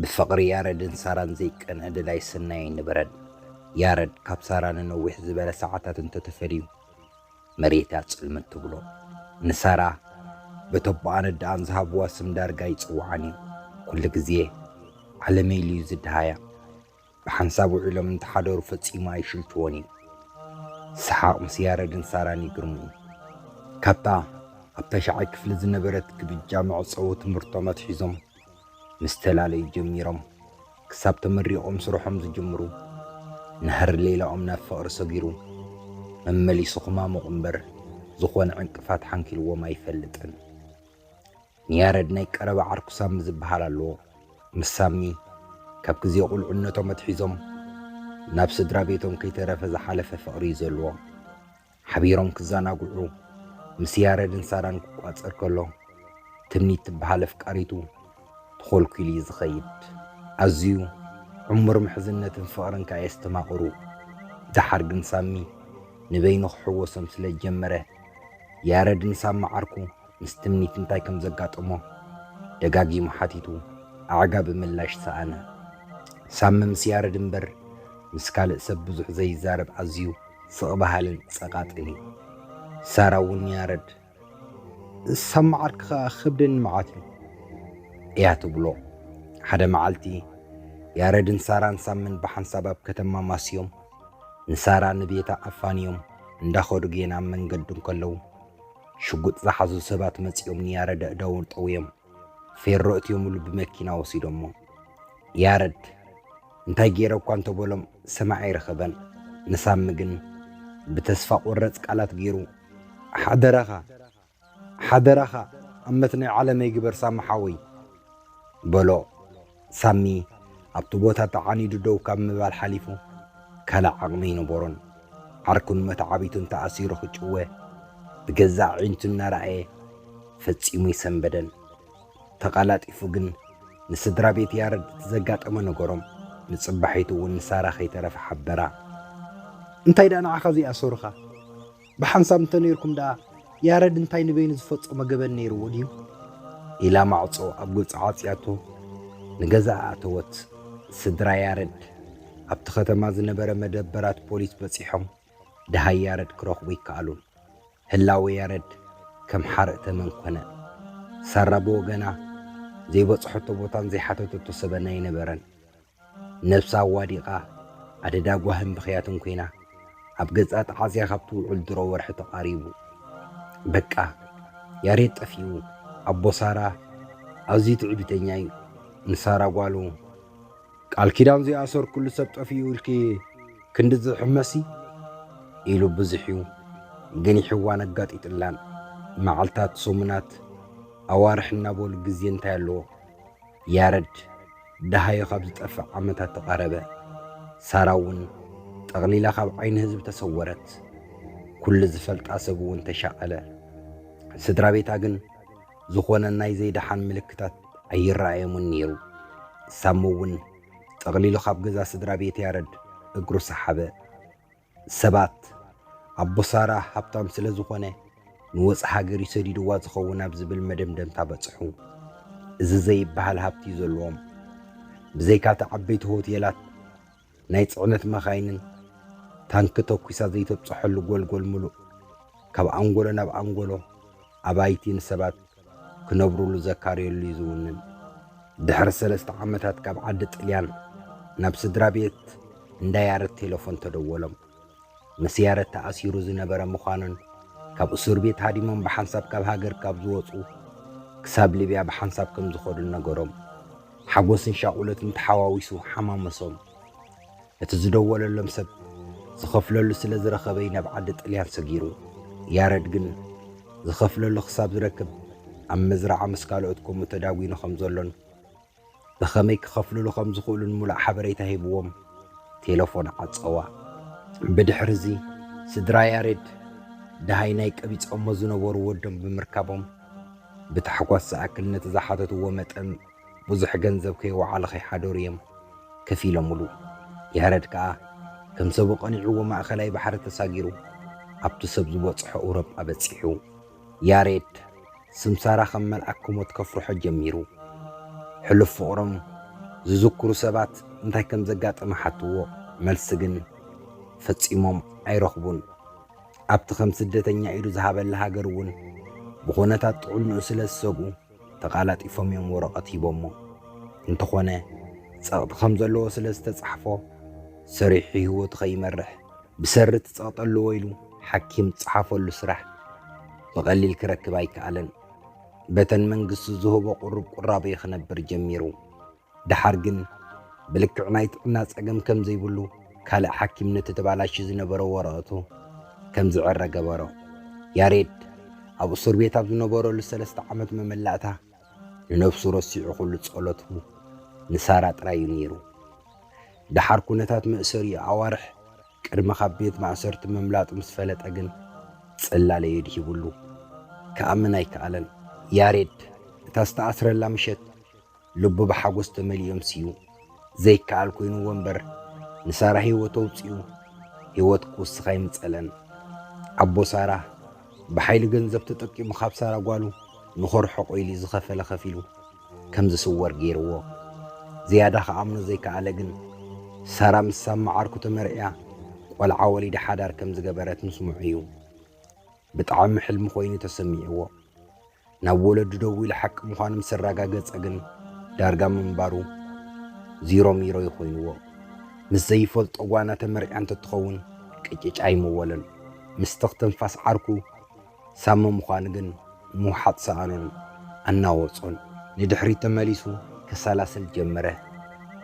ብፍቕሪ ያረድን ሳራን ዘይቀንዐ ደላይ ሰናይ ኣይነበረን። ያረድ ካብ ሳራ ንነዊሕ ዝበለ ሰዓታት እንተተፈልዩ መሬት እያ ጽልምት ትብሎ። ንሳራ በተቦኣን ኣደኣን ዝሃብዋ ስም ዳርጋ ኣይጽውዓን እዩ። ኩሉ ግዜ ዓለመይ ኢሉ'ዩ ዝደሃያ። ብሓንሳብ ውዒሎም እንተሓደሩ ፈጺሙ ኣይሽንችዎን እዩ። ሰሓቕ ምስ ያረድን ሳራን ይግርሙኒ። ካብታ ኣብ ተሻዓይ ክፍሊ ዝነበረት ግብጃ መዕጸዊ ትምህርቶም ኣትሒዞም ምስ ተላለዩ ጀሚሮም ክሳብ ተመሪቖም ስርሖም ዝጅምሩ ናህሪ ሌላኦም ናብ ፍቕሪ ሰጊሩ መመሊሱ ክማሙቕ እምበር ዝኾነ ዕንቅፋት ሓንኪልዎም ኣይፈልጥን። ንያረድ ናይ ቀረባ ዓርኩ ሳሚ ዝብሃል ኣለዎ። ምስ ሳሚ ካብ ግዜ ቁልዕነቶም ኣትሒዞም ናብ ስድራ ቤቶም ከይተረፈ ዝሓለፈ ፍቕሪ እዩ ዘለዎም። ሓቢሮም ክዘናግዑ ምስ ያረድን ሳራን ክቋጸር ከሎ ትምኒት ትብሃል ኣፍቃሪቱ ተኾልኲሉ እዩ ዝኸይድ። ኣዝዩ ዕሙር ምሕዝነትን ፍቕርን ከኣ የስተማቕሩ። ደሓር ግን ሳሚ ንበይኑ ክሕወሶም ስለ ዝጀመረ ያረድ ንሳሚ ዓርኩ ምስ ትምኒት እንታይ ከም ዘጋጠሞ ደጋጊሙ ሓቲቱ ኣዕጋቢ ምላሽ ሰኣነ። ሳሚ ምስ ያረድ እምበር ምስ ካልእ ሰብ ብዙሕ ዘይዛረብ ኣዝዩ ስቕ በሃልን ጸቓጥን እዩ። ሳራ እውን ንያረድ ሳብ መዓርክ ኸኣ ክብደኒ መዓት እዩ እያ ትብሎ። ሓደ መዓልቲ ያረድን ሳራን ሳምን ብሓንሳብ ኣብ ከተማ ማስዮም ንሳራ ንቤታ ኣፋንዮም እንዳኸዱ ጌና ኣብ መንገዲ እንከለዉ ሽጉጥ ዝሓዙ ሰባት መጺኦም ንያረድ ኣእዳዉ ጠውዮም ፌሮ እትዮምሉ ብመኪና ወሲዶሞ። ያረድ እንታይ ገይረ እኳ እንተበሎም ሰማዒ ኣይረኸበን። ንሳሚ ግን ብተስፋ ቆረጽ ቃላት ገይሩ ሓደራኻ ሓደራኻ ኣመት ናይ ዓለመይ ግበር ሳሚ ሓወይ በሎ። ሳሚ ኣብቲ ቦታ ተዓኒዱ ደው ካብ ምባል ሓሊፉ ካልእ ዓቕሚ ኣይነበሮን። ዓርኩን መተዓቢቱን ተኣሲሩ ክጭወ ብገዛእ ኣዒንቱ እናረኣየ ፈጺሙ ኣይሰንበደን። ተቐላጢፉ ግን ንስድራ ቤት ያረድ እቲ ዘጋጠመ ነገሮም። ንጽባሒቱ እውን ንሳራ ከይተረፈ ሓበራ። እንታይ ደኣ ንዓኻ ዘይኣሰሩኻ? ብሓንሳብ እንተ ነይርኩም ደኣ ያረድ እንታይ ንበይኑ ዝፈጸሞ ገበን ነይርዎ ድዩ? ኢላ ማዕጾ ኣብ ገጹ ዓጽያቶ ንገዛኣ ኣተወት። ስድራ ያረድ ኣብቲ ከተማ ዝነበረ መደበራት ፖሊስ በጺሖም ደሃይ ያረድ ክረኽቡ ኣይከኣሉን። ህላወ ያረድ ከም ሓርኢ ተመን ኮነ። ሳራ ብወገና ዘይበጽሖቶ ቦታን ዘይሓተተቶ ሰበን ኣይነበረን። ነብሳ ኣዋዲቓ፣ ኣደዳ ጓህን ብኽያትን ኰይና፣ ኣብ ገጻ ተዓጽያ ካብ ትውዕል ድሮ ወርሒ ተቓሪቡ። በቃ! ያሬድ ጠፊኡ። ኣቦ ሳራ ኣዝዩ ትዕቢተኛ'ዩ። ንሳራ ጓሉ፣ ቃል ኪዳን ዘይኣሰርኩሉ ሰብ ጠፊኡ ኢልኪ ክንድዚ ትሕመሲ? ኢሉ ብዙሕ'ዩ ገኒሕዋን ኣጋጢጥላን። መዓልታት፣ ሰሙናት፣ ኣዋርሕ እናበሉ ግዜ እንታይ ኣለዎ? ያረድ! ደሃዩ ኻብ ዚጠፍእ ዓመታት ተቓረበ። ሳራውን ጠቕሊላ ኻብ ዓይኒ ህዝቢ ተሰወረት፣ ኵሉ ዚፈልጣ ሰብውን ተሻቐለ። ስድራ ቤታ ግን ዝዀነ ናይ ዘይደሓን ምልክታት ኣይረኣዮምን ነይሩ። ሳምውን ጠቕሊሉ ኻብ ገዛ ስድራ ቤት ያረድ እግሩ ሰሓበ። ሰባት ኣቦ ሳራ ሃብታም ስለ ዝኾነ ንወጻኢ ሃገር እዩ ሰዲድዋ ዝኸውን ኣብ ዝብል መደምደምታ በጽሑ። እዚ ዘይበሃል ሃብቲ እዩ ዘለዎም። ብዘይካ'ቲ ዓበይቲ ሆቴላት፣ ናይ ጽዕነት መካይንን ታንኪ ተኲሳ ዘይተብጽሐሉ ጎልጎል ምሉእ፣ ካብ ኣንጎሎ ናብ ኣንጎሎ ኣባይቲ ንሰባት ክነብሩሉ ዘካርየሉ እዩ ዝውንን። ድሕሪ ሰለስተ ዓመታት ካብ ዓዲ ጥልያን ናብ ስድራ ቤት እንዳ ያረት ቴለፎን ተደወሎም። ምስ ያረት ተኣሲሩ ዝነበረ ምዃኑን ካብ እሱር ቤት ሃዲሞም ብሓንሳብ ካብ ሃገር ካብ ዝወፁ ክሳብ ሊብያ ብሓንሳብ ከም ዝኸዱን ነገሮም። ሓጎስን ሻቑሎትን ተሓዋዊሱ ሓማመሶም። እቲ ዝደወለሎም ሰብ ዝኸፍለሉ ስለ ዝረኸበ'ዩ ናብ ዓዲ ጥልያን ሰጊሩ። ያረድ ግን ዝኸፍለሉ ክሳብ ዝረክብ ኣብ መዝርዓ ምስ ካልኦት ከምኡ ተዳጒኑ ከም ዘሎን ብኸመይ ክኸፍልሉ ከም ዝኽእሉን ምሉእ ሓበሬታ ሂብዎም ቴለፎን ዓጸዋ። ብድሕር'ዚ ስድራ ያሬድ ደሃይ ናይ ቀቢጾሞ ዝነበሩ ወዶም ብምርካቦም ብታሕጓስ ዝኣክል ነቲ ዝሓተትዎ መጠን ብዙሕ ገንዘብ ከይወዓሉ ከይሓደሩ እዬም ከፊሎምሉ። ያረድ ከኣ ከም ሰቡ ቀኒዕዎ ማእከላይ ባሕሪ ተሳጊሩ ኣብቱ ሰብ ዝበጽሖ እውሮጳ በጺሑ። ያሬድ ስም ሳራ ከም መልኣክ ክሞት ከፍርሖ ጀሚሩ። ሕሉፍ ፍቅሮም ዝዝኩሩ ሰባት እንታይ ከም ዘጋጠመ ሓትዎ መልሲ ግን ፈጺሞም ኣይረኽቡን። ኣብቲ ከም ስደተኛ ኢዱ ዝሃበላ ሃገር እውን ብኩነታት ጥዕንኡ ስለ ዝሰግኡ፣ ተቓላጢፎም እዮም ወረቐት ሂቦሞ። እንተኾነ ጸቕጢ ከም ዘለዎ ስለ ዝተጻሕፎ፣ ሰሪሑ ህይወቱ ከይመርሕ ብሰሪ እቲ ጸቕጢ ኣለዎ ኢሉ ሓኪም ዝጸሓፈሉ ስራሕ ብቐሊል ክረክብ ኣይከኣለን። በተን መንግስቲ ዝህቦ ቁሩብ ቁራብ'ዩ ክነብር ጀሚሩ። ደሓር ግን ብልክዕ ናይ ጥዕና ጸገም ከም ዘይብሉ ካልእ ሓኪም ነቲ ተባላሺ ዝነበረ ወረቐቱ ከም ዝዕረ ገበሮ። ያሬድ ኣብ እሱር ቤት ኣብ ዝነበረሉ ሰለስተ ዓመት መመላእታ ንነብሱ ረሲዑ ኩሉ ጸሎቱ ንሳራ ጥራይ እዩ ነይሩ። ደሓር ኩነታት መእሰሪኡ ኣዋርሕ ቅድሚ ካብ ቤት ማእሰርቲ ምምላጡ ምስ ፈለጠ ግን ጽላለ የድሂብሉ። ክኣምን ኣይከኣለን። ያሬድ እታ ዝተኣስረላ ምሸት ልቡ ብሓጎስ ተመሊኡ ኣምስዩ ዘይከኣል ኮይንዎ እምበር ንሳራ ህይወት ኣውጺኡ ህይወት ክውስኽ ኣይምጸለን። ኣቦ ሳራ ብሓይሊ ገንዘብ ተጠቂሙ ካብ ሳራ ጓሉ ንኸርሕቆ ኢሉ ዝኸፈለ ከፊሉ ከም ዝስወር ገይርዎ። ዝያዳ ክኣምኖ ዘይከኣለ ግን ሳራ ምስ ሳብ መዓርኩ ተመርዕያ ቆልዓ ወሊዳ ሓዳር ከም ዝገበረት ምስምዑ እዩ። ብጣዕሚ ሕልሚ ኮይኑ ተሰሚዕዎ። ናብ ወለዱ ደዊሉ ሓቂ ምዃኑ ምስ ኣረጋገጸ ግን ዳርጋ ምንባሩ ዚሮ ሚሮ እዩ ኮይንዎ። ምስ ዘይፈልጦ ጓና ተመርዕያ እንተትኸውን ቅጭጭ ኣይምወለን። ምስ ትኽ ትንፋስ ዓርኩ ሳሚ ምዃኑ ግን ምውሓጥ ሰኣኖን ኣናወጾን። ንድሕሪት ተመሊሱ ከሰላስል ጀመረ።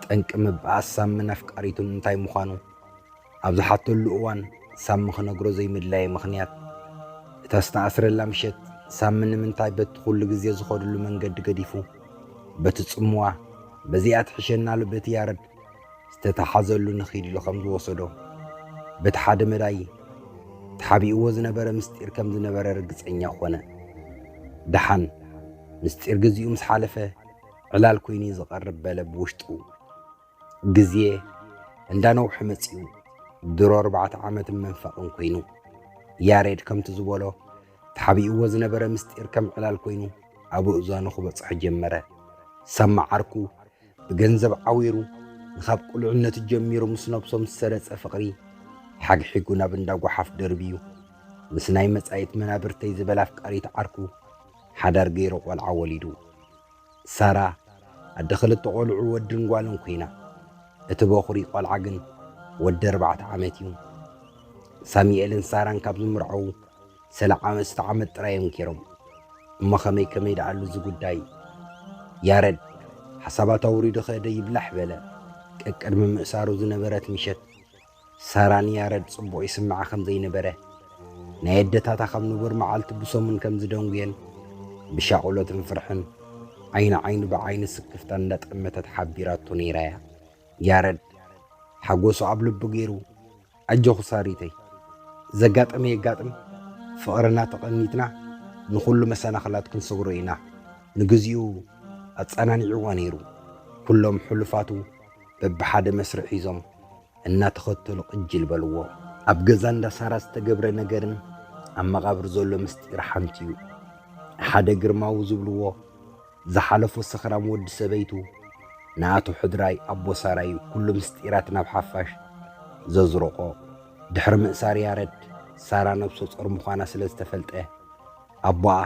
ጠንቂ ምብኣስ ሳሚን ኣፍቃሪቱን እንታይ ምዃኑ? ኣብ ዝሓተሉ እዋን ሳሚ ክነግሮ ዘይምድላየ ምኽንያት፣ እታ ዝተኣስረላ ምሸት ሳሚ ንምንታይ በቲ ኩሉ ግዜ ዝኸድሉ መንገዲ ገዲፉ በቲ ጽምዋ በዚኣ ትሕሸናሉ በቲ ያረድ ዝተታሓዘሉ ንኺድ ኢሉ ከም ዝወሰዶ በቲ ሓደ መዳይ ተሓቢእዎ ዝነበረ ምስጢር ከም ዝነበረ ርግጸኛ ኾነ። ደሓን ምስጢር ግዚኡ ምስ ሓለፈ ዕላል ኮይኑ'ዩ ዝቐርብ በለ ብውሽጡ። ግዜ እንዳነውሐ መጺኡ ድሮ ኣርባዕተ ዓመትን መንፈቕን ኮይኑ ያሬድ ከምቲ ዝበሎ ተሓቢእዎ ዝነበረ ምስጢር ከም ዕላል ኮይኑ ኣብ እእዛኑ ክበጽሖ ጀመረ። ሰማዕ ዓርኩ ብገንዘብ ዓዊሩ ንኻብ ቁልዕነቱ ጀሚሩ ምስ ነብሶም ዝሰረጸ ፍቕሪ ሓግሒጉ ናብ እንዳ ጓሓፍ ደርብዩ ምስ ናይ መጻኢት መናብርተይ ዝበላ ኣፍቃሪት ዓርኩ ሓዳር ገይሩ ቆልዓ ወሊዱ። ሳራ ኣደ ክልተ ቆልዑ ወድን ጓልን ኩይና፣ እቲ በኹሪ ቆልዓ ግን ወዲ ኣርባዕተ ዓመት እዩ። ሳሚኤልን ሳራን ካብ ዝምርዓዉ ሰለዓመስተ ዓመት ጥራይ እዮም ጌሮም። እሞ ከመይ ከመይ ደኣሉ እዚ ጉዳይ? ያረድ ሓሳባት ኣውሪዱ ከደ ይብላሕ በለ። ቀቅድሚ ምእሳሩ ዝነበረት ምሸት ሳራ ንያረድ ጽቡቕ ይስምዓ ኸም ዘይነበረ፣ ናይ ኣደታታ ኸም ንቡር መዓልቲ ብሰሙን ከም ዝደንጉየን፣ ብሻቕሎትን ፍርሕን፣ ዓይኒ ዓይኑ ብዓይኒ ስክፍታን እንዳጠመተት ሓቢራቶ ነይራ እያ። ያረድ፣ ሓጎሱ ኣብ ልቡ ገይሩ፣ ኣጆኺ ሳሪተይ፣ ዘጋጠመ የጋጥም፣ ፍቕርና ተቐኒትና ንኹሉ መሰናኽላት ክንሰግሮ ኢና፣ ንግዚኡ ኣጸናኒዕዋ ነይሩ። ኩሎም ሕሉፋቱ በብሓደ መስርዕ ሒዞም እናተኸተሉ ቕጅል በልዎ። ኣብ ገዛ እንዳ ሳራ ዝተገብረ ነገርን ኣብ መቓብር ዘሎ ምስጢር ሓንቲ'ዩ። ንሓደ ግርማዊ ዝብልዎ ዝሓለፎ ሰኽራም ወዲ ሰበይቱ ንኣቶ ሕድራይ ኣቦ ሳራ'ዩ ኩሉ ምስጢራት ናብ ሓፋሽ ዘዝረቆ። ድሕሪ ምእሳር ያረድ ሳራ ነብሶ ጾር ምዃና ስለ ዝተፈልጠ ኣቦኣ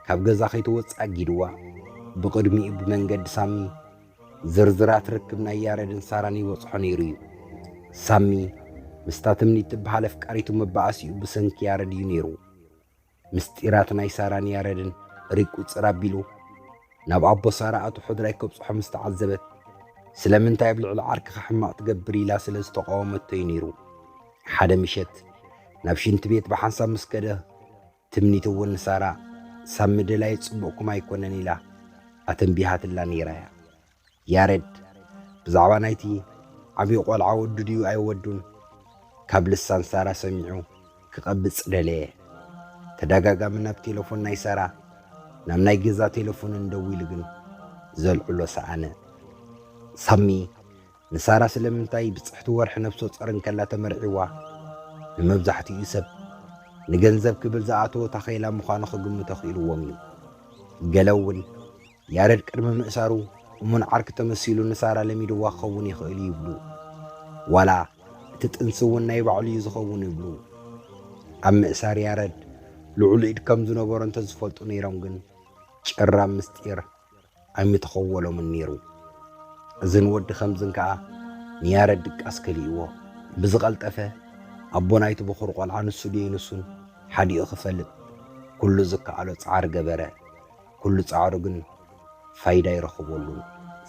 ካብ ገዛ ከይትወጽእ ኣጊድዋ። ብቕድሚኡ ብመንገዲ ሳሚ ዝርዝራት ርክብ ናይ ያረድን ሳራን ይበጽሖ ነይሩ እዩ። ሳሚ ምስታ ትምኒት ትበሃል ኣፍቃሪቱ መባኣሲኡ ብሰንኪ ያረድ እዩ ነይሩ። ምስጢራት ናይ ሳራን ያረድን ሪቁጽር ኣቢሉ ናብ ኣቦ ሳራ ኣቶ ሕድራይ ከብጽሖ ምስ ተዓዘበት ስለምንታይ ኣብ ልዕሊ ዓርክኻ ሕማቕ ትገብር ኢላ ስለ ዝተቓወመቶ እዩ ነይሩ። ሓደ ምሸት ናብ ሽንቲ ቤት ብሓንሳብ ምስ ከደ ትምኒት እውን ንሳራ ሳሚ ደላዪ ጽቡቕኩም ኣይኮነን ኢላ ኣተንቢሃትላ ነይራ እያ። ያሬድ ብዛዕባ ናይቲ ዓብዪ ቆልዓ ወዱ ድዩ ኣይወዱን ካብ ልሳን ሳራ ሰሚዑ ክቐብጽ ደለየ። ተደጋጋሚ ናብ ቴለፎን ናይ ሳራ ናብ ናይ ገዛ ቴለፎንን ደዊሉ ግን ዘልዕሎ ሰኣነ። ሳሚ ንሳራ ስለምንታይ ብጽሕቲ ወርሒ ነፍሰጾር እንከላ ተመርዒዋ? ንመብዛሕትኡ ሰብ፣ ንገንዘብ ክብል ዝኣተዎ ታኼላ ምዃኑ ክግምቶ ክኢልዎም እዩ። ገለ'ውን፣ ያረድ ቅድሚ ምእሳሩ እሙን ዓርኪ ተመሲሉ ንሳራ ለሚድዋ ክኸውን ይኽእል'ዩ ይብሉ። ዋላ እቲ ጥንሲ'ውን ናይ ባዕሉ'ዩ ዝኸውን ይብሉ። ኣብ ምእሳር ያረድ ልዑል ኢድ ከም ዝነበሮ እንተ ዝፈልጡ ነይሮም ግን፣ ጭራ ምስጢር፣ ኣይምተኸወሎምን ነይሩ። እዝን ወዲ ከምዝን ከኣ ንያረድ ድቃስ ከሊእዎ። ብዝቐልጠፈ ኣቦ ናይቲ ብኹር ቆልዓ ንሱ ደይንሱን ሓዲኡ ክፈልጥ ኩሉ ዝከኣሎ ጻዕሪ ገበረ። ኩሉ ጻዕሩ ግን ፋይዳ ኣይረኸበሉን።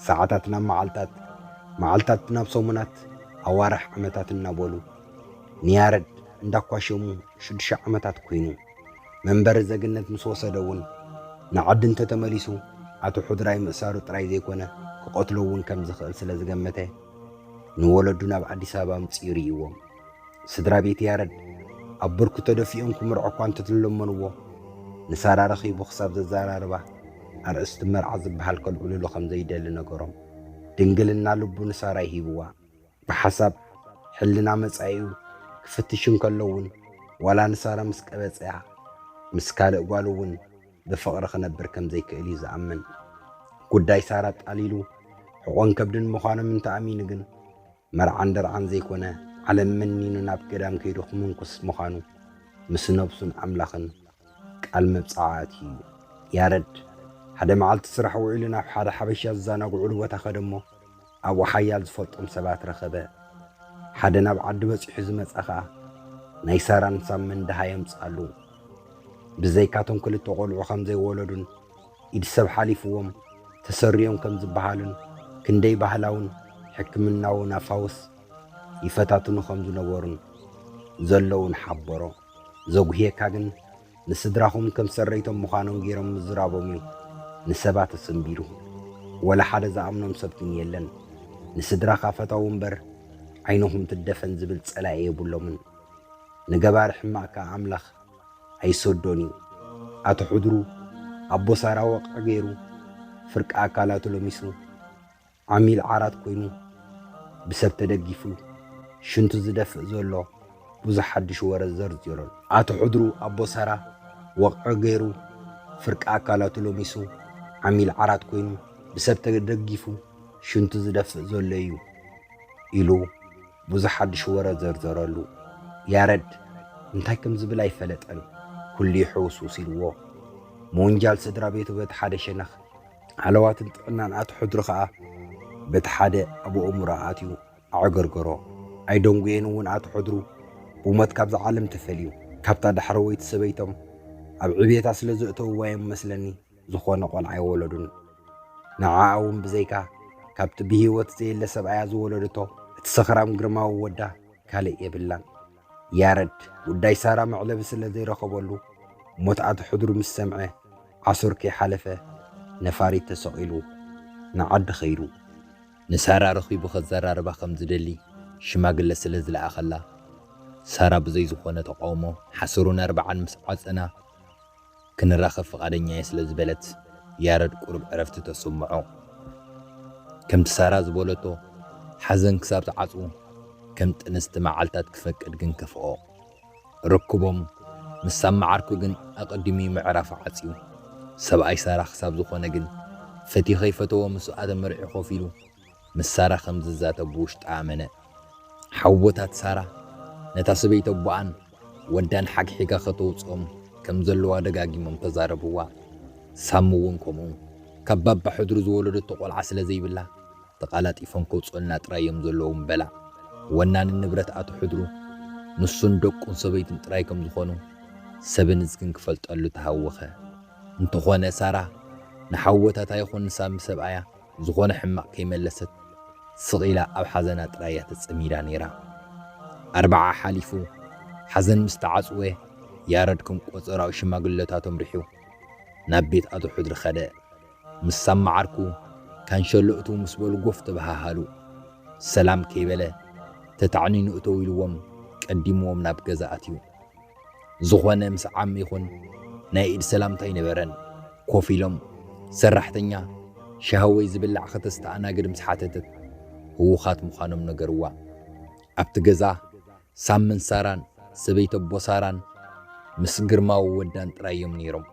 ሰዓታት ናብ መዓልታት፣ መዓልታት ናብ ሰሙናት፣ ኣዋርሕ ዓመታት እናበሉ ንያረድ እንዳኳሸሙ ሽዱሽተ ዓመታት ኩይኑ። መንበሪ ዘግነት ምስ ወሰደ እውን ንዓዲ እንተተመሊሱ ኣቶ ሑድራይ ምእሳሩ ጥራይ ዘይኮነ ክቐትሎ እውን ከም ዝኽእል ስለ ዝገመተ ንወለዱ ናብ ኣዲስ ኣበባ ኣምጺኡ ርእይዎም። ስድራ ቤት ያረድ ኣብ ብርኩ ተደፊኦም ክምርዖ እኳ እንተተለመንዎ ንሳራ ረኺቡ ክሳብ ዘዘራርባ ኣርእስቲ መርዓ ዝበሃል ከልዕልሉ ከም ዘይደሊ ነገሮም። ድንግልና ልቡ ንሳራይ ሂብዋ። ብሓሳብ ሕልና መጻኢኡ ክፍትሽ እንከሎ'ውን ዋላ ንሳራ ምስ ቀበጸያ ምስ ካልእ ጓሉ'ውን ብፍቕሪ ክነብር ከም ዘይክእል'ዩ ዝኣምን። ጉዳይ ሳራ ኣጣሊሉ ሕቖን ከብድን ምዃኖም እንተ ኣሚኑ ግን መርዓን ደርዓን ዘይኮነ ዓለም መኒኑ ናብ ገዳም ከይዱ ክምንኩስ ምዃኑ ምስ ነብሱን ኣምላኽን ቃል መብጽዓ ኣትዩ እዩ። ያረድ ሓደ መዓልቲ ስራሕ ውዒሉ ናብ ሓደ ሓበሻ ዝዛናግዑሉ ቦታ ከደ'ሞ፣ ኣብኡ ሓያል ዝፈልጦም ሰባት ረኸበ። ሓደ ናብ ዓዲ በጺሑ ዝመጸ ኸኣ፣ ናይ ሳራን ሳምን ደሃይ ኣምጽኣሉ። ብዘይካቶም ክልተ ቈልዑ ከም ዘይወለዱን ኢድ ሰብ ሓሊፍዎም ተሰሪዮም ከም ዝበሃሉን ክንደይ ባህላውን ሕክምናውን ኣፋውስ ይፈታትኑ ከም ዝነበሩን ዘለዉን ሓበሮ። ዘጉህየካ ግን ንስድራኹም ከም ሰረይቶም ምዃኖም ገይሮም ምዝራቦም እዩ። ንሰባት ኣጽንቢሩ። ወላ ሓደ ዝኣምኖም ሰብ ግን የለን። ንስድራኻ ፈተዉ እምበር ዓይንኹም ትደፈን ዝብል ጸላኢ የብሎምን። ንገባሪ ሕማቕ ከኣ ኣምላኽ ኣይሰዶን እዩ። ኣቶ ሕድሩ ኣቦ ሳራ ወቕዒ ገይሩ ፍርቂ ኣካላቱ ለሚሱ። ዓሚል ዓራት ኮይኑ ብሰብ ተደጊፉ ሽንቱ ዝደፍእ ዘሎ ብዙሕ ሓድሽ ወረ ዘርዚሩን። ኣቶ ሕድሩ ኣቦሰራ ወቕዒ ገይሩ ፍርቂ ኣካላቱ ለሚሱ ዓሚል ዓራት ኮይኑ ብሰብ ተደጊፉ ሽንቱ ዝደፍእ ዘሎ እዩ ኢሉ ብዙሕ ሓድሽ ወረ ዘርዘረሉ። ያረድ እንታይ ከም ዝብል ኣይፈለጠን፣ ኩሉ ይሕውስውስ ኢልዎ። ምውንጃል ስድራ ቤቱ በቲ ሓደ ሸነኽ ሃለዋትን ጥዕናን ኣቲ ሕድሪ ከኣ በቲ ሓደ ኣብ ኣእምሮ ኣትዩ ኣዕገርገሮ። ኣይደንጉየን እውን ኣቲ ሕድሩ ብሞት ካብዛ ዓለም ተፈልዩ። ካብታ ዳሕረወይቲ ሰበይቶም ኣብ ዕብየታ ስለ ዘእተውዋ እዮም መስለኒ ዝኾነ ቆልዓ ኣይወለዱን። ንዓኣ እውን ብዘይካ ካብቲ ብህይወት ዘየለ ሰብኣያ ዝወለደቶ እቲ ሰኽራም ግርማዊ ወዳ ካልእ የብላን። ያረድ ጉዳይ ሳራ መዕለቢ ስለ ዘይረኸበሉ፣ ሞት ኣቶ ሕድሩ ምስ ሰምዐ፣ ዓሱር ከይሓለፈ ነፋሪት ተሰቒሉ ንዓዲ ከይዱ። ንሳራ ረኺቡ ከዘራርባ ከም ዝደሊ ሽማግለ ስለ ዝለኣኸላ፣ ሳራ ብዘይ ዝኾነ ተቓውሞ ሓሰሩን ኣርብዓን ምስ ዓጸና፣ ክንራኸብ ፍቓደኛ'የ ስለ ዝበለት ያረድ ቁሩብ ዕረፍቲ ተሰምዖ። ከምቲ ሳራ ዝበለቶ ሓዘን ክሳብ ዝዓጹ ከም ጥንስቲ መዓልታት ክፈቅድ ግን ከፍኦ። ርክቦም ምስ ሳምዓርኩ ግን ኣቐዲሙ'ዩ ምዕራፉ ዓጽዩ። ሰብኣይ ሳራ ክሳብ ዝኾነ ግን ፈትዩ ከይፈተወ ምስኡ ኣተመርዕዩ ኮፍ ኢሉ ምስ ሳራ ከም ዝዛተብ ብውሽጣ ኣመነ። ሓውቦታት ሳራ ነታ ሰበይቲ ኣቦኣን ወዳን ሓግሒጋ ከተውጽኦም ከም ዘለዋ ደጋጊሞም ተዛረብዋ። ሳሚ እውን ከምኡ። ካብ ባባ ሕድሩ ዝወለደቶ ቆልዓ ስለ ዘይብላ ተቓላጢፎም ከውጽኡልና ጥራይ እዮም ዘለዎም በላ። ወናኒ ንብረት ኣቶ ሕድሩ ንሱን ደቁን ሰበይቱን ጥራይ ከም ዝኾኑ ሰብን እዝግን ክፈልጠሉ ተሃወኸ። እንተኾነ ሳራ ንሓውቦታታ ይኹን ንሳሚ ሰብኣያ ዝኾነ ሕማቕ ከይመለሰት ስቕ ኢላ ኣብ ሓዘና ጥራይ እያ ተጸሚዳ ነይራ። ኣርብዓ ሓሊፉ፣ ሓዘን ምስ ተዓጽወ፣ ያረድ ከም ቆጸራኡ ሽማግለታቶም ሪሑ ናብ ቤት ኣቶ ሕድሪ ከደ። ምስ ሳማ ዓርኩ ካንሸሎ እትው ምስ በሉ ጎፍ ተበሃሃሉ። ሰላም ከይበለ ተታዕኒኑ እተው ኢልዎም ቀዲምዎም ናብ ገዛ ኣትዩ። ዝኾነ ምስ ዓሚ ይኹን ናይ ኢድ ሰላምታ ኣይነበረን። ኮፍ ኢሎም ሰራሕተኛ ሻሂ ወይ ዝብላዕ ከተስተኣናግድ ምስ ሓተተት ህዉኻት ምዃኖም ነገርዋ። ኣብቲ ገዛ ሳምን ሳራን ሰበይቲ ኣቦ ሳራን ምስ ግርማዊ ወዳን ጥራይ እዮም ነይሮም።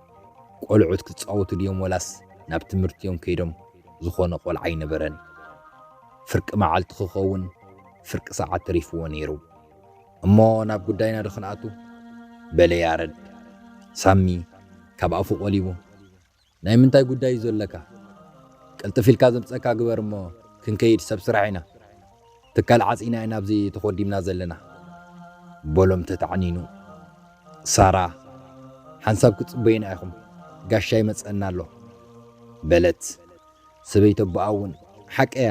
ቆልዑት ክጻወቱ ድዮም ወላስ ናብ ትምህርቲ እዮም ከይዶም ዝኾነ ቆልዓ ኣይነበረን። ፍርቂ መዓልቲ ክኸውን ፍርቂ ሰዓት ተሪፍዎ ነይሩ። እሞ ናብ ጉዳይና ዶ ክንኣቱ? በለ ያረድ። ሳሚ ካብ ኣፉ ቆሊቡ፣ ናይ ምንታይ ጉዳይ እዩ ዘለካ? ቅልጥፍ ኢልካ ዘምጽእካ ግበር እሞ ክንከይድ ሰብ ስራሕ ኢና። ትካል ዓጺና ኢና ኣብዚ ተኾዲምና ዘለና። በሎም ተታዕኒኑ። ሳራ ሓንሳብ ክትጽበዩና ኢኹም፣ ጋሻ ይመጸና ኣሎ። በለት። ሰበይቲ ኣቦኣ እውን ሓቀያ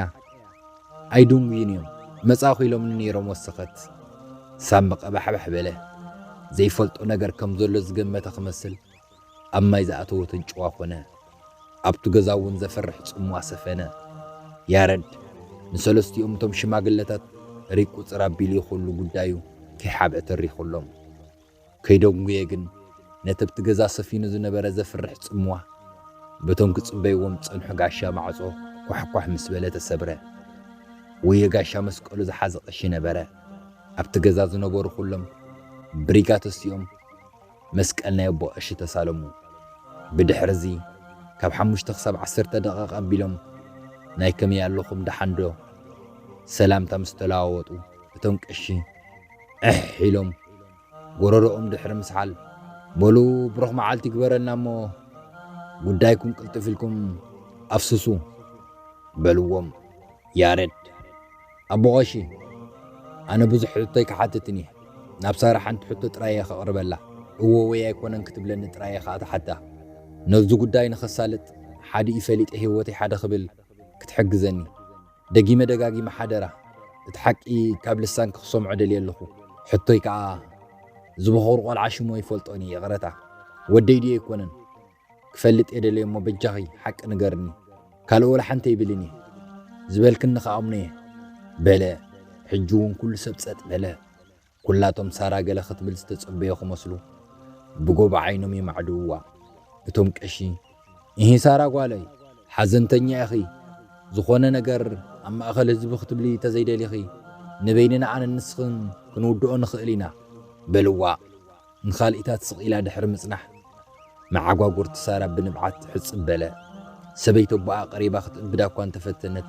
ኣይድንጉዩን እዮም መጻእኹ ኢሎምኒ ነይሮም ወሰኸት። ሳሚ ቀባሕባሕ በለ። ዘይፈልጦ ነገር ከም ዘሎ ዝገመተ ክመስል ኣብ ማይ ዝኣተወ ተንጭዋ ኮነ። ኣብቲ ገዛ እውን ዘፍርሕ ጽምዋ ሰፈነ። ያረድ ንሰለስቲኦም እቶም ሽማግለታት ሪቁጽር ኣቢሉ ይኹሉ ጉዳዩ ከይሓብዐ ተሪኹሎም። ከይደንጉየ ግን ነቲ ኣብቲ ገዛ ሰፊኑ ዝነበረ ዘፍርሕ ጽምዋ በቶም ክጽበይዎም ዝጸንሑ ጋሻ ማዕጾ ኳሕኳሕ ምስ በለ ተሰብረ። ወዮ ጋሻ መስቀሉ ዝሓዘ ቀሺ ነበረ። ኣብቲ ገዛ ዝነበሩ ኩሎም ብሪጋ ተሲኦም መስቀል ናይ ኣቦ ቀሺ ተሳለሙ። ብድሕርዚ ካብ ሓሙሽተ ክሳብ ዓሰርተ ደቐቕ ኣቢሎም ናይ ከመይ ኣለኹም ደሓንዶ ሰላምታ ምስ ተለዋወጡ እቶም ቀሺ፣ ዕሕ ኢሎም ጎረርኦም ድሕሪ ምስሓል በሉ ብሩኽ መዓልቲ ግበረልና እሞ ጉዳይኩም ቅልጥፍ ኢልኩም ኣፍስሱ በልዎም ያሬድ ኣቦቐሺ ኣነ ብዙሕ ሕቶ ኣይክሓትትን እየ ናብ ሳራ ሓንቲ ሕቶ ጥራይ እየ ከቕርበላ እዎ ወይ ኣይኮነን ክትብለኒ ጥራይ እየ ከዓ ተሓታ ነዚ ጉዳይ ንኸሳልጥ ሓዲኡ ፈሊጠ ህይወተይ ሓደ ክብል ክትሕግዘኒ ደጊመ ደጋጊመ ሓደራ እቲ ሓቂ ካብ ልሳንኪ ክሰምዖ ደልየ ኣለኹ ሕቶይ ከኣ እዚ ቦኾሩ ቆልዓ ሽሙ ኣይፈልጦን እየ ይቕረታ ወደይ ድዩ ኣይኮነን ክፈልጥ እየ ደልየ እሞ በጃኺ ሓቂ ንገርኒ ካልእ ወላ ሓንቲ ኣይብልን እየ ዝበልክኒ ከኣ ኣምኖ እየ በለ ሕጂ እውን ኩሉ ሰብ ጸጥ በለ ኩላቶም ሳራ ገለ ክትብል ዝተጸበዮ ክመስሉ ብጎቦ ዓይኖም የማዕድውዋ። እቶም ቀሺ፣ እሂ ሳራ ጓለይ፣ ሓዘንተኛ ኢኺ፣ ዝኾነ ነገር ኣብ ማእከል ህዝቢ ክትብሊ ተዘይደሊኺ፣ ንበይንና ኣነን ንስኽን ክንውድኦ ንኽእል ኢና፣ በልዋ። ንኻልኢታት ስቕ ኢላ ድሕሪ ምጽናሕ፣ መዓጓጉርቲ ሳራ ብንብዓት ሕጽብ በለ። ሰበይቲ ኣቦኣ ቀሪባ ክትእብዳ እኳ እንተ ፈተነት፣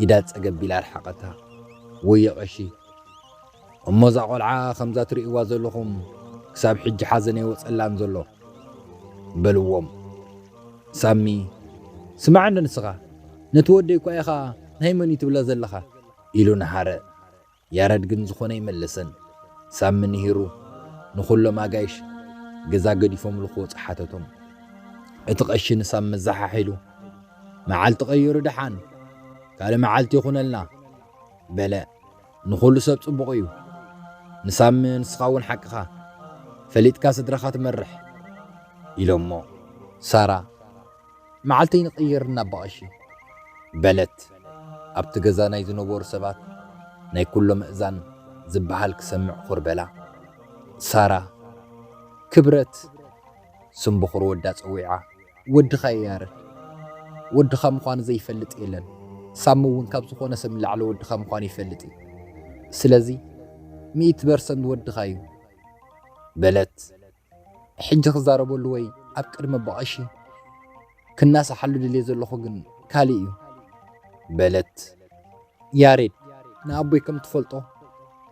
ኢዳ ጸገብ ኢላ ኣርሓቐታ። ወየ ቐሺ! እሞ እዛ ቈልዓ ከምዛ ትርእይዋ ዘሎኹም ክሳብ ሕጂ ሓዘን ኣይወጸላን ዘሎ። በልዎም። ሳሚ፣ ስማዕ'ንዶ ንስኻ፣ ነቲ ወደይ እኳ ኢኻ ናይ መን'ዩ ትብሎ ዘለኻ? ኢሉ ነሃረ። ያረድ ግን ዝኾነ ኣይመለሰን። ሳሚ ንሂሩ ንኹሎም ኣጋይሽ ገዛ ገዲፎምሉ ክወፁ ሓተቶም። እቲ ቐሺ ንሳሚ መዘሓሒሉ መዓልቲ ቀይሩ ደሓን ካልእ መዓልቲ ይኹነልና በለ። ንኹሉ ሰብ ጽቡቕ እዩ። ንሳሚ ንስኻ እውን ሓቅኻ ፈሊጥካ ስድራኻ ትመርሕ ኢሎሞ ሳራ መዓልተይ ንቕይር እና ብቐሺ። በለት። ኣብቲ ገዛ ናይ ዝነበሩ ሰባት ናይ ኩሎምእዛን ዝበሃል ክሰምዕ ኹር በላ። ሳራ፣ ክብረት! ስም ብኹር ወዳ ጸዊዓ። ወድኻ እየ ያረድ። ወድኻ ምዃኑ ዘይፈልጥ የለን። ሳሚ እውን ካብ ዝኾነ ሰብ ንላዕሊ ወድኻ ምዃኑ ይፈልጥ እዩ። ስለዚ ሚእቲ በርሰንት ወድኻ እዩ። በለት። ሕጂ ክዛረበሉ ወይ ኣብ ቅድሚ ኣቦቀሺ ክናሳሓሉ ድልየ ዘለኹ ግን ካልእ እዩ። በለት። ያሬድ ንኣቦይ ከም ትፈልጦ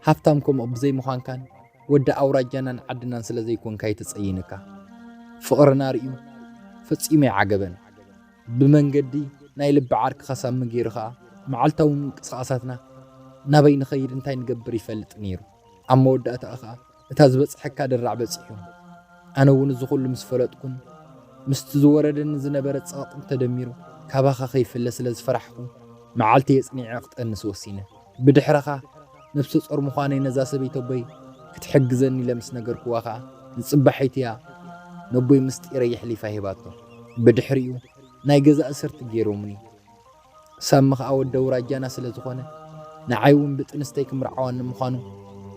ሃፍታም ከምኡ ብዘይ ምዃንካን ወዲ ኣውራጃናን ዓድናን ስለ ዘይኮንካ እዩ ተጸይንካ። ፍቕርና ርእዩ ፈጺሙ ኣይዓገበን። ብመንገዲ ናይ ልቢ ዓርኪ ከሳሚ ገይሩ ከኣ መዓልታዊ ምንቅስቓሳትና ናበይ ንኸይድ እንታይ ንገብር ይፈልጥ ነይሩ። ኣብ መወዳእታኡ ከኣ እታ ዝበጽሐካ ድራዕ በጺሑ። ኣነ እውን እዚ ኩሉ ምስ ፈለጥኩን ምስቲ ዝወረደኒ ዝነበረ ጸቕጢን ተደሚሩ ካባኻ ከይፍለ ስለ ዝፈራሕኩ መዓልቲ የጽኒዐ ክጠንስ ወሲነ። ብድሕረኻ ነብሰ ጾር ምዃነይ ነዛ ሰበይቲ ኣቦይ ክትሕግዘኒ ኢለ ምስ ነገርክዋ ከኣ ንጽባሒት እያ ነቦይ ምስጢረይ የሕሊፋ ሂባቶ። ብድሕሪኡ ናይ ገዛ እስርቲ ገይሮሙኒ። ሳሚ ከኣ ወዲ ኣውራጃና ስለ ዝኾነ ንዓይ ውን ብጥንስተይ ክምርዓወኒ ምዃኑ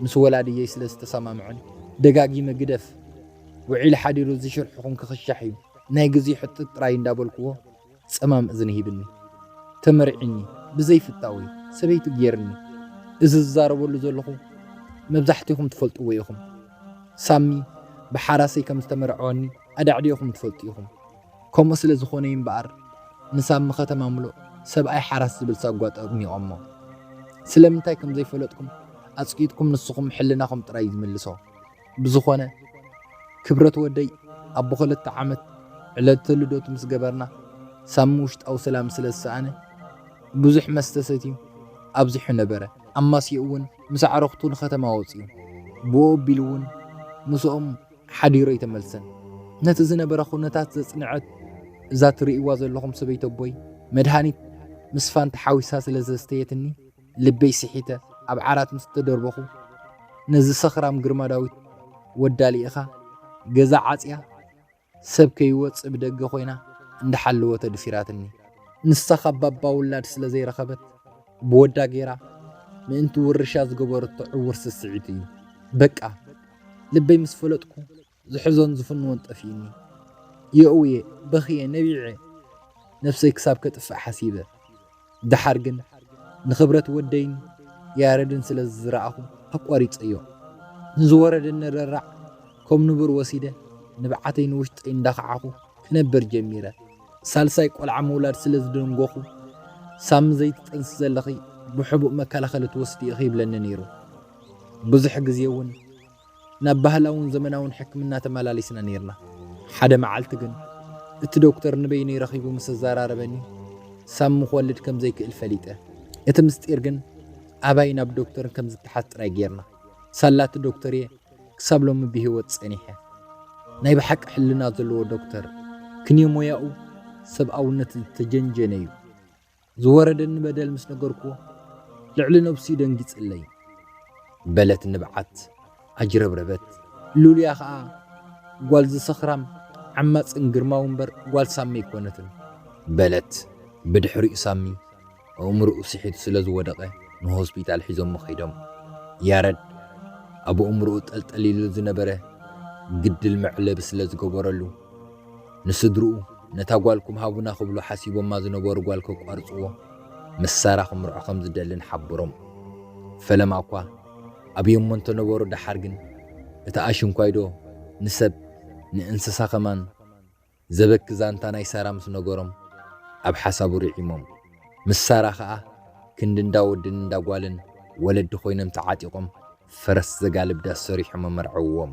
ምስ ወላድየይ ስለ ዝተሰማምዑኒ ደጋጊመ ግደፍ ውዒሉ ሓዲሩ እዚ ሽርሕኹም ክኽሻሕ እዩ ናይ ግዜኡ ሕቶ ጥራይ እንዳበልኩዎ ጸማም እዝኒ ሂብኒ ተመርዒኒ ብዘይ ፍታወይ ሰበይቱ ጌርኒ እዚ ዝዛረበሉ ዘለኹ መብዛሕቲኹም ትፈልጥዎ ኢኹም ሳሚ ብሓራሰይ ከም ዝተመርዐወኒ ኣዳዕዲዕኹም ትፈልጡ ኢኹም። ከምኡ ስለ ዝኾነ'ዩ እምበኣር ምስ ኣብ ምኸተማ ምሉእ ሰብኣይ ሓራስ ዝብል ሳጓ ጠርኒቖሞ። ስለምንታይ ከም ዘይፈለጥኩም ኣጽቂጥኩም ንስኹም ሕልናኹም ጥራይ እዩ ዝምልሶ። ብዝኾነ ክብረት ወደይ ኣቦ ክልተ ዓመት ዕለተ ልደቱ ምስ ገበርና ሳሚ ውሽጣዊ ሰላም ስለ ዝሰኣነ ብዙሕ መስተ ሰትዩ ኣብዚሑ ነበረ። ኣማስይኡ እውን ምስ ኣዕሩኽቱ ንኸተማ ወጺኡ። ብኡ ኣቢሉ እውን ምስኦም ሓዲሩ ኣይተመልሰን። ነቲ ዝነበረ ኩነታት ዘጽንዐት እዛ ትርእይዋ ዘለኹም ሰበይቲ ኣቦይ መድሃኒት ምስ ፋንታ ሓዊሳ ስለ ዘስተየትኒ ልበይ ስሒተ ኣብ ዓራት ምስ ተደርበኹ ነዚ ሰኽራም ግርማ ዳዊት ወዳ ልኢኻ ገዛ ዓጽያ ሰብ ከይወጽእ ብደገ ኮይና እንዳሓለወት ኣድፊራትኒ። ንሳ ካብ ባባ ውላድ ስለ ዘይረኸበት ብወዳ ገይራ ምእንቲ ውርሻ ዝገበረቶ ዕዉር ስስዒት እዩ። በቃ! ልበይ ምስ ፈለጥኩ ዝሕዞን ዝፍንዎን ጠፊኡኒ የእውየ በኽየ ነቢዐ ነብሰይ ክሳብ ከጥፍእ ሓሲበ ደሓር ግን ንኽብረት ወደይን ያረድን ስለ ዝረኣኹ ኣቋሪጸዮ ንዝወረደ ንረራዕ ከም ንቡር ወሲደ ንብዓተይ ንውሽጠይ እንዳኸዓኹ ክነብር ጀሚረ ሳልሳይ ቆልዓ ምውላድ ስለ ዝደንጎኹ ሳሚ ዘይትጠንሲ ዘለኺ ብሕቡእ መከላኸሊ ትወስዲ ኢኺ ይብለኒ ነይሩ ብዙሕ ግዜ እውን ናብ ባህላውን ዘመናውን ሕክምና ተመላሊስና ነይርና። ሓደ መዓልቲ ግን እቲ ዶክተር ንበይነይ ረኺቡ ምስ ኣዘራረበኒ ሳሚ ክወልድ ከም ዘይክእል ፈሊጠ። እቲ ምስጢር ግን ኣባይ ናብ ዶክተርን ከም ዝተሓዝ ጥራይ ገይርና። ሳላ እቲ ዶክተር እየ ክሳብ ሎሚ ብህይወት ጸኒሐ። ናይ ብሓቂ ሕልና ዘለዎ ዶክተር፣ ክንዮ ሞያኡ ሰብኣውነት ዝተጀንጀነ እዩ። ዝወረደኒ በደል ምስ ነገርኩዎ ልዕሊ ነብሱ ደንጊጽለይ በለት ንብዓት ኣጅረብረበት ሉልያ ከኣ ጓል ዝሰኽራም ዓማጽን ግርማዊ እምበር ጓል ሳሚ ኣይኮነትን በለት ብድሕሪኡ ሳሚ ኣእምርኡ ስሒቱ ስለ ዝወደቐ ንሆስፒታል ሒዞሞ ከይዶም ያረድ ኣብ ኣእምርኡ ጠልጠል ኢሉ ዝነበረ ግድል መዕለቢ ስለ ዝገበረሉ ንስድርኡ ነታ ጓልኩም ሃቡና ክብሉ ሓሲቦማ ዝነበሩ ጓል ከቋርጽዎ ምስ ሳራ ክምርዖ ከም ዝደልን ሓብሮም። ፈለማ'ኳ ኣብዮሞ እንተነበሩ ደሓር ግን እቲ ኣሽንኳይዶ ንሰብ ንእንስሳ ከማን ዘበኪ ዛንታ ናይ ሳራ ምስ ነገሮም ኣብ ሓሳቡ ርዒሞም። ምስ ሳራ ከኣ ክንዲ እንዳ ወድን እንዳ ጓልን ወለዲ ኮይኖም ተዓጢቖም ፈረስ ዘጋልብ ዳስ ሰሪሖም ኣመርዐውዎም።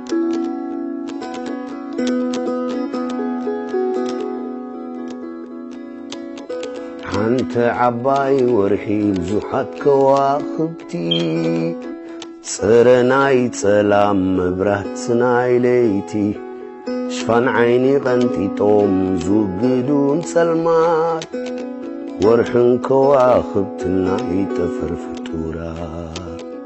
ሓንቲ ዓባይ ወርሒ ብዙሓት ከዋኽብቲ ጽረ ናይ ጸላም መብራት ናይ ለይቲ ሽፋን ዓይኒ ቐንጢጦም ዝውግዱን ጸልማት ወርሕን ከዋኽብትና ይጠፈር ፍጡራት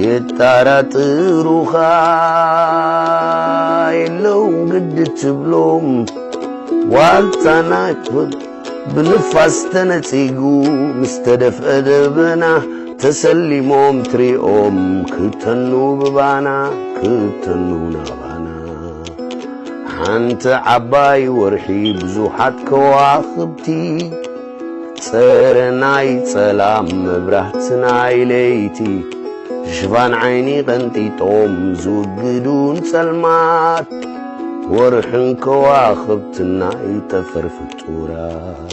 የጣራጥሩኻ የለው ግድ ትብሎም ዋልታ ናይፍል ብንፋስ ተነጺጉ ምስ ተደፍአ ደበና ተሰሊሞም ትሪኦም ክተኑ ብባና ክተኑ ናባና ሓንቲ ዓባይ ወርሒ ብዙሓት ከዋኽብቲ ጽር ናይ ጸላም መብራህት ናይ ለይቲ ሽፋን ዓይኒ ቀንጢጦም ዝውግዱን ጸልማት ወርሕን ከዋኽብትን ናይ ጠፈር ፍጡራት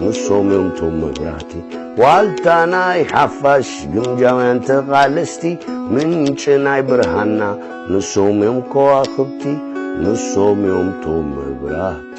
ንሶም እዮም ቶም መብራህቲ ዋልታ ናይ ሓፋሽ ግምጃውያን ተቓለስቲ ምንጪ ናይ ብርሃና ንሶም እዮም ከዋኽብቲ ንሶም እዮም ቶም መብራህቲ